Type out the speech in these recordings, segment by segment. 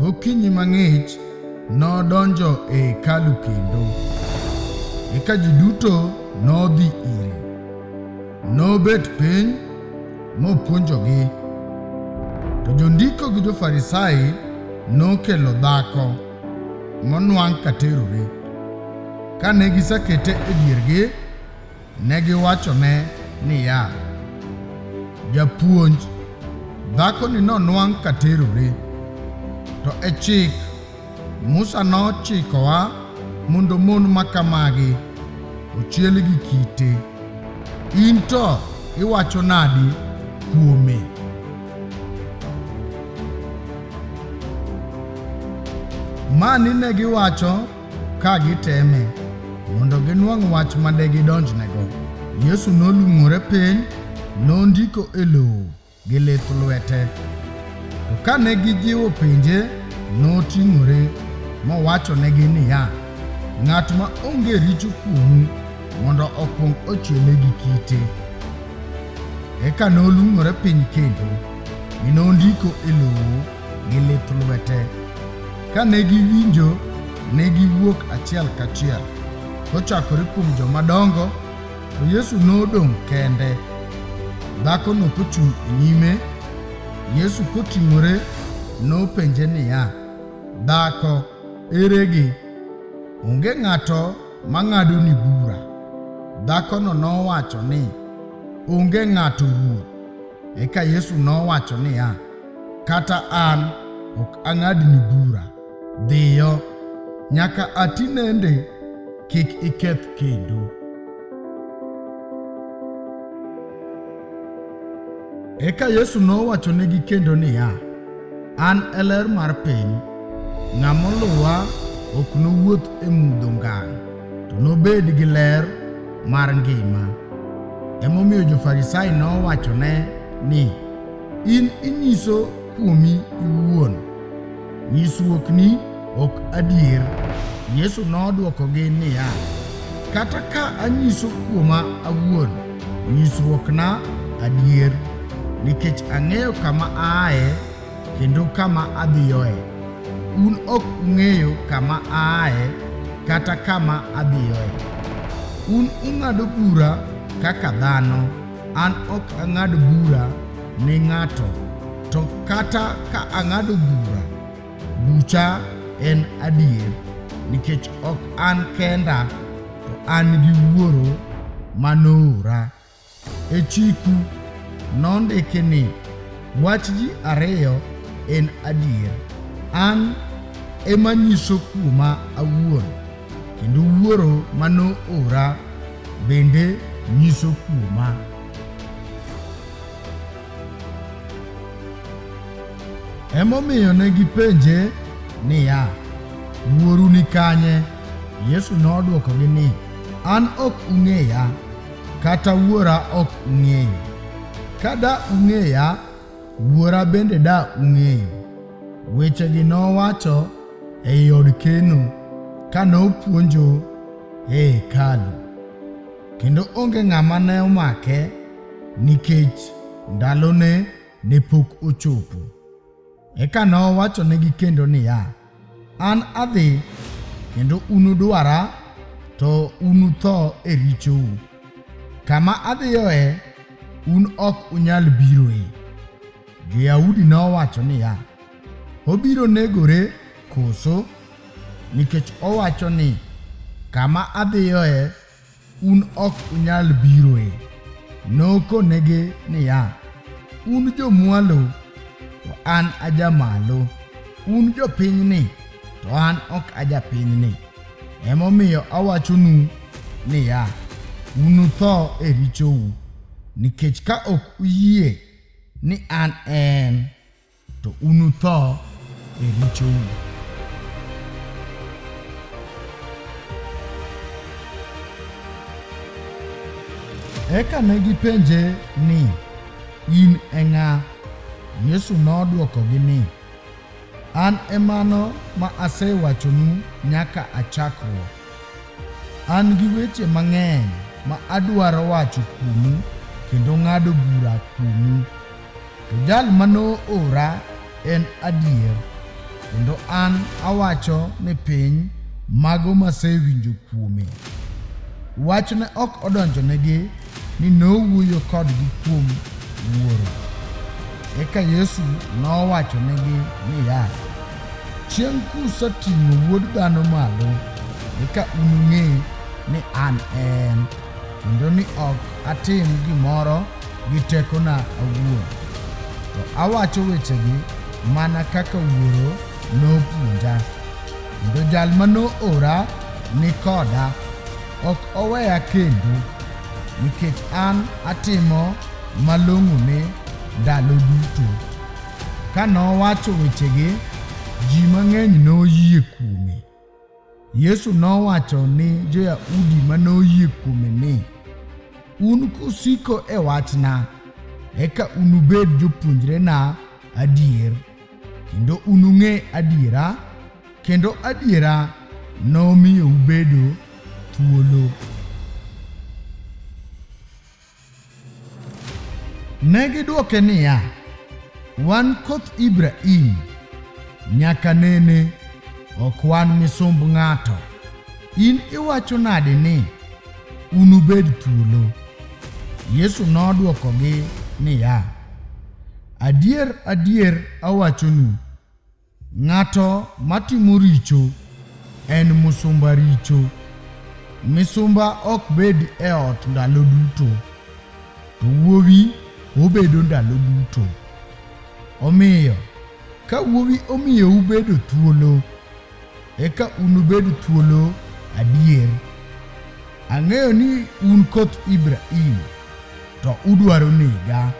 Gokinyi mang'ich nodonjo e hekalu kendo, eka ji duto nodhi ire. Nobet piny mopuonjogi. To jondiko gi jo-Farisai nokelo dhako monwang' ka terore. Kane gisekete e diergi, Ne giwachone niya, Japuonj, dhakoni nonwang' ka terore, to e chik Musa nochikowa mondo mon ma kamagi ochiel gi kite. In to iwacho nadi kuome? Mani ne giwacho Ka giteme mondo ginwang' wach ma de gidonjnego, Yesu nolung'ore piny, nondiko e lowo gi lith lwete. To ka ne gijiwo penje, noting'ore mowachonegi niya, Ng'at ma onge richo kuomu mondo okwong ochiele gi kite. Eka nolung'ore piny kendo, mi nondiko e lowo gi lith lwete. Ka ne giwinjo, ne giwuok achiel kachiel, kochakore kuom joma dongo, to Yesu nodong' kende. Dhakono kochung' e nyime, Yesu koting'ore nopenje niya, Dhako, eregi? Onge ng'ato mang'adoni bura. Dhakono nowacho ni, Onge ng'ato Ruoth. Eka Yesu nowacho niya, Kata an ok ang'adni bura. Dhiyo, nyaka ati nende kik iketh kendo. Eka Yesu nowachonegi kendo niya, An e ler mar piny. Ng'a moluwa ok nowuoth e mudho ngang', to nobed gi ler mar ngima. Emomiyo jo-Farisai nowachone ni, In inyiso kuomi iwuon. Nyisruokni ok adier. Yesu nodwokogi niya, Kata ka anyiso kuoma awuon, nyisruokna adier, nikech ang'eyo kama aaye kendo kama adhiyoe. Un ok ung'eyo kama aaye kata kama adhiyoe. Un ung'ado bura kaka dhano. An ok ang'ad bura ne ng'ato, to kata ka ang'ado bura, bucha en adier, nikech ok an kenda, to an gi Wuoro ma noora. E chiku nondiki ni, Wach ji ariyo en adier. An ema nyiso kuoma awuon. Kendo Wuoro ma noora bende nyiso kuoma. Emomiyo ne gipenje niya, Wuoru ni kanye? Yesu nodwokogi ni, An ok ung'eya, kata Wuora ok ung'eyo. Ka da ung'eya, Wuora bende da ung'eyo. Wechegi nowacho ei od keno ka nopuonjo e hekalu, kendo onge ng'ama ne omake nikech ndalone ne pok ochopo. Eka nowachonegi kendo niya, An adhi, kendo unudwara, to unutho e richou. Kama adhiyoe, un ok unyal biroe. Jo-Yahudi nowacho niya, Obiro negore koso? Nikech owacho ni, 'Kama adhiyoe, un ok unyal biroe. Nokonegi niya, Un jomwalo, to an ajamalo, un jopinyni, to an ok ajapinyni. Emomiyo awachonu niya, unutho e richou, nikech ka ok uyie ni an en. To unutho e richou. Eka ne gipenje ni, In e ng'a? Yesu nodwokogi ni, An e mano ma asewachonu nyaka a chakruok. An gi weche mang'eny ma adwaro wacho kuomu kendo ng'ado bura kuomu. To jal ma noora en adier, kendo an awacho ni piny mago masewinjo kuome. Wach ne ok odonjonegi ni nowuoyo kodgi kuom Wuoro. Eka Yesu nowachonegi niya, Chieng' kuseting'o Wuod Dhano malo, eka unung'e ni an en, kendo ni ok atim gimoro gi tekona awuon, to awacho wechegi mana kaka Wuoro nopuonja. Kendo jal ma noora ni koda, ok oweya kendo, nikech an atimo malong'one ndalo duto. Ka nowacho wechegi, ji mang'eny noyie kuome. Yesu nowacho ni Jo-Yahudi ma noyie kuome ni, Un kusiko e wachna, eka unubed jopuonjrena adier, kendo unung'e adiera, kendo adiera nomiyo ubedo thuolo. Ne gidwoke niya, Wan koth Ibrahim, nyaka nene, ok wan misumb ng'ato. In iwacho nade ni unubed thuolo? Yesu nodwokogi niya, Adier, adier awachonu, Ng'ato matimo richo en musumba richo. Misumba ok bed e ot ndalo duto, to wuowi obedo ndalo duto. Omiyo, ka wuowi omiyo ubedo thuolo, eka unubed thuolo adier. Ang'eyo ni un koth Ibrahim, to udwaro nega.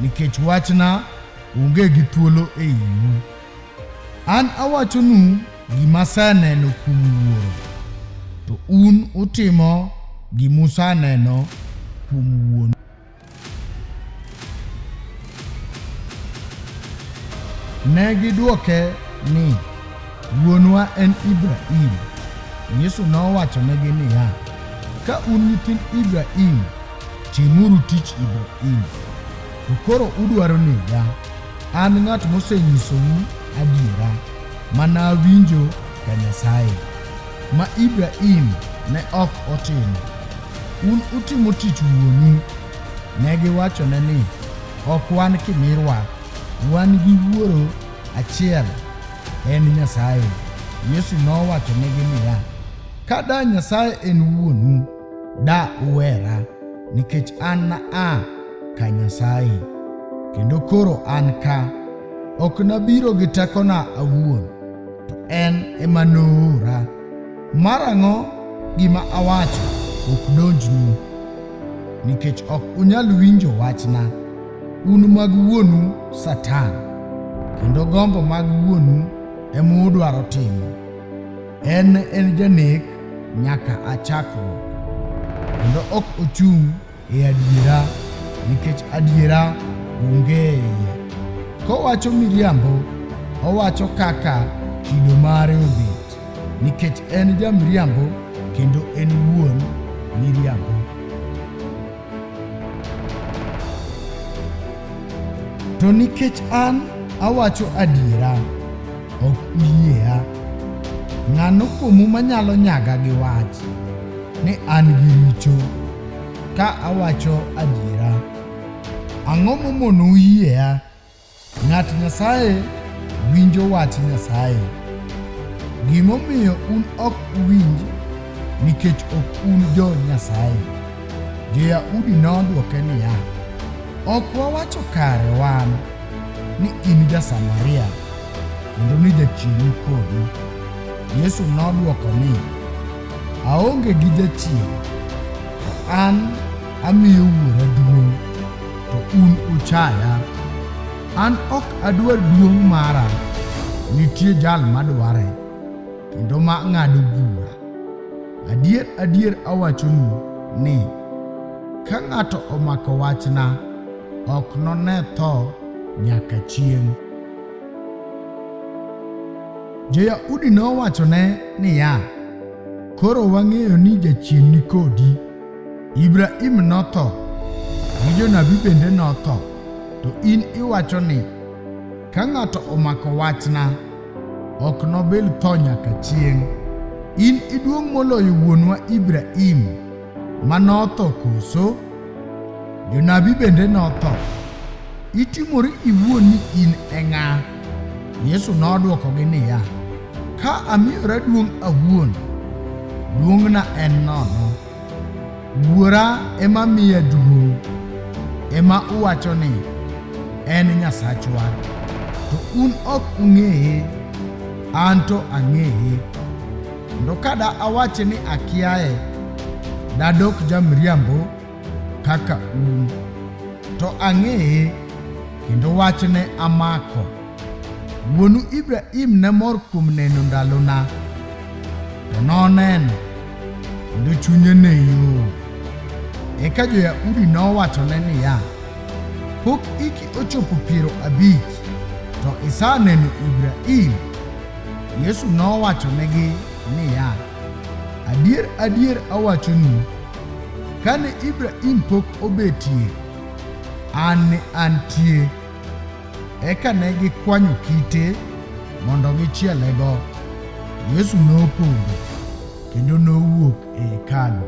nikech wachna onge gi thuolo e iwu. An awachonu gima aseneno kuom Wuoro, to un utimo gima useneno kuom Wuon. Ne gidwoke ni, Wuonwa en Ibrahim. Yesu nowachonegi niya, Ka un nyithind Ibrahim, timuru tich Ibrahim. To koro udwaro nega, an ng'at mosenyisou adiera ma nawinjo ka Nyasaye, ma Ibrahim ne ok otimo. Un utimo tich wuonu. Ne giwachone ni, Ok wan kimirwa, wan gi wuoro Achiel en Nyasaye. Yesu nowachonegi niya, Ka da Nyasaye en wuonu, da uwera, nikech an na a ka Nyasaye, kendo koro an ka. Ok nabiro gi tekona awuon, to en ema noora. Marang'o gima awacho ok donjnu, nikech ok unyal winjo wachna. Un mag wuonu Satan, kendo gombo mag wuonu ema udwaro timo. En en janek nyaka a chakruok, kendo ok ochung' e adiera, nikech adiera onge e iye. Kowacho miriambo, owacho kaka kido mare obet, nikech en jamiriambo kendo en wuon miriambo. To nikech an awacho adiera, ok uyiea. Ng'ano kuomu manyalo nyaga gi wach ni an gi richo ka awacho adiera? Ang'o momonou yiea Ng'at Nyasaye winjo wach Nyasaye. Gimomiyo un ok uwinj nikech ok un jo Nyasaye. Jo-Yahudi nodwoke niya, Ok wawacho kare wan ni in ja-Samaria kendo ni jachien ni kodi? Yesu nodwoko ni, Aonge gi jachien, to an amiyo Wuora duong'. to un uchaya. An ok adwar duong' mara, nitie jal madware, kendo ma ng'ado bura. Adier adier awachonu ni, ka ng'ato omako wachna, ok none tho nyaka chieng'. Jo-Yahudi nowachone niya, Koro wang'eyo ni jachien ni kodi. Ibrahim notho, gi jonabi bende notho, to in iwacho ni, 'Ka ng'ato omako wachna, ok nobil tho nyaka chieng'. In iduong' moloyo wuonwa Ibrahim ma notho koso? Jonabi bende notho. Itimori iwuon ni in e ng'a? Yesu nodwokogi niya, Ka amiyora duong' awuon, duong'na en nono. Wuora ema miya duong', ema uwacho ni en Nyasachwa, to un ok ung'eye, an to ang'eye. Kendo kada awache ni akiaye, dadok jamriambo kaka un, to ang'eye kendo wachne amako. Wuonu Ibrahim ne mor kuom neno ndalona, to noneno kendo chunye ne yom. Eka jo-Yahudi nowachone niya, Pok hiki ochopo piero abich, to isaneno Ibrahim? Yesu nowachonegi niya, Adier, adier awachonu, Kane Ibrahim pok obetie, an ne antie. Eka ne gikwanyo kite mondo gichielego. Yesu nopodho kendo nowuok e hekalu.